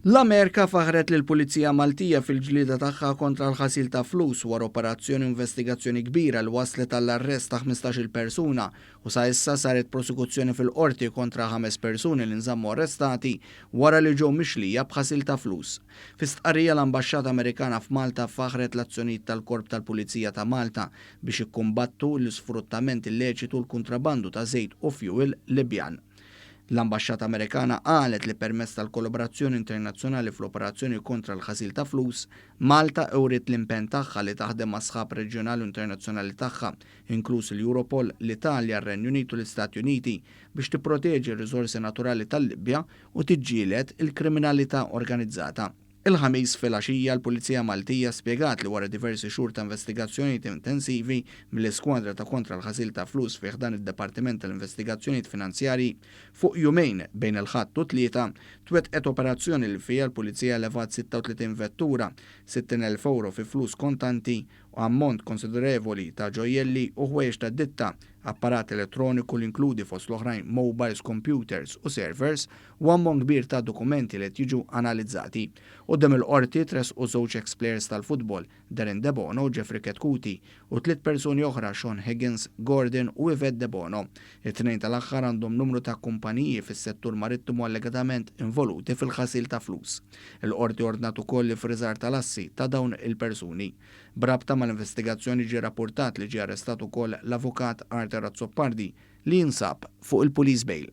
L-Amerika faħħret lill-Pulizija Maltija fil-ġlieda tagħha kontra l-ħasil ta' flus wara operazzjoni u investigazzjoni kbira li wasslet għall-arrest ta' ħmistax-il persuna u sa issa saret prosekuzzjoni fil-Qorti kontra ħames persuni li nżammu arrestati wara li ġew mixlija b'ħasil ta' flus. Fi stqarrija l-Ambaxxata Amerikana f'Malta faħħret l-azzjonijiet tal-Korp tal-Pulizija ta' Malta biex jikkumbattu l-isfruttament illeċitu u l-kuntrabandu ta' żejt u fjuwil Libjan. L-Ambaxxata Amerikana qalet li permezz tal-kollaborazzjoni internazzjonali fl-operazzjoni kontra l-ħasil ta' flus, Malta wriet l-impenn tagħha li taħdem mas-sħab reġjonali u internazzjonali tagħha, inkluż il-Europol, l-Italja, r-Renju Unit u l-Istati Uniti, biex tipproteġi r-riżorsi naturali tal-Libja u tiġġieled il-kriminalità organizzata. Il-Ħamis filgħaxija l-Pulizija Maltija spjegat li wara diversi xhur ta' investigazzjonijiet intensivi mill-iskwadra ta' kontra l-ħasil ta' flus fi ħdan id-Dipartiment tal-Investigazzjonijiet Finanzjarji, fuq jumejn bejn il-Ħadd u t-Tlieta twettqet operazzjoni li fiha l-Pulizija levat 36 vettura, 60 elf ewro fi flus kontanti u ammont konsiderevoli ta' ġojjelli u ħwejjeġ tad-ditta, apparat elettroniku li inkludi fost l-oħrajn mobiles, kompjuters u servers u ammont kbir ta' dokumenti li qed jiġu analizzati. Quddiem il-Qorti tressqu żewġ eks plejers tal-futbol, Darren Debono u Jeffrey Chetcuti, u tliet persuni oħra, Shaun Higgins, Gordon u Yvette Debono. It-tnejn tal-aħħar għandhom numru ta' kumpaniji fis-settur marittimu allegatament involuti fil-ħasil ta' flus. Il-Qorti ordnat ukoll l-iffriżar tal-assi ta' dawn il-persuni. B'rabta mal-investigazzjoni ġie rappurtat li ġie arrestat ukoll l-Avukat Arthur Azzopardi li jinsab fuq il-police bail.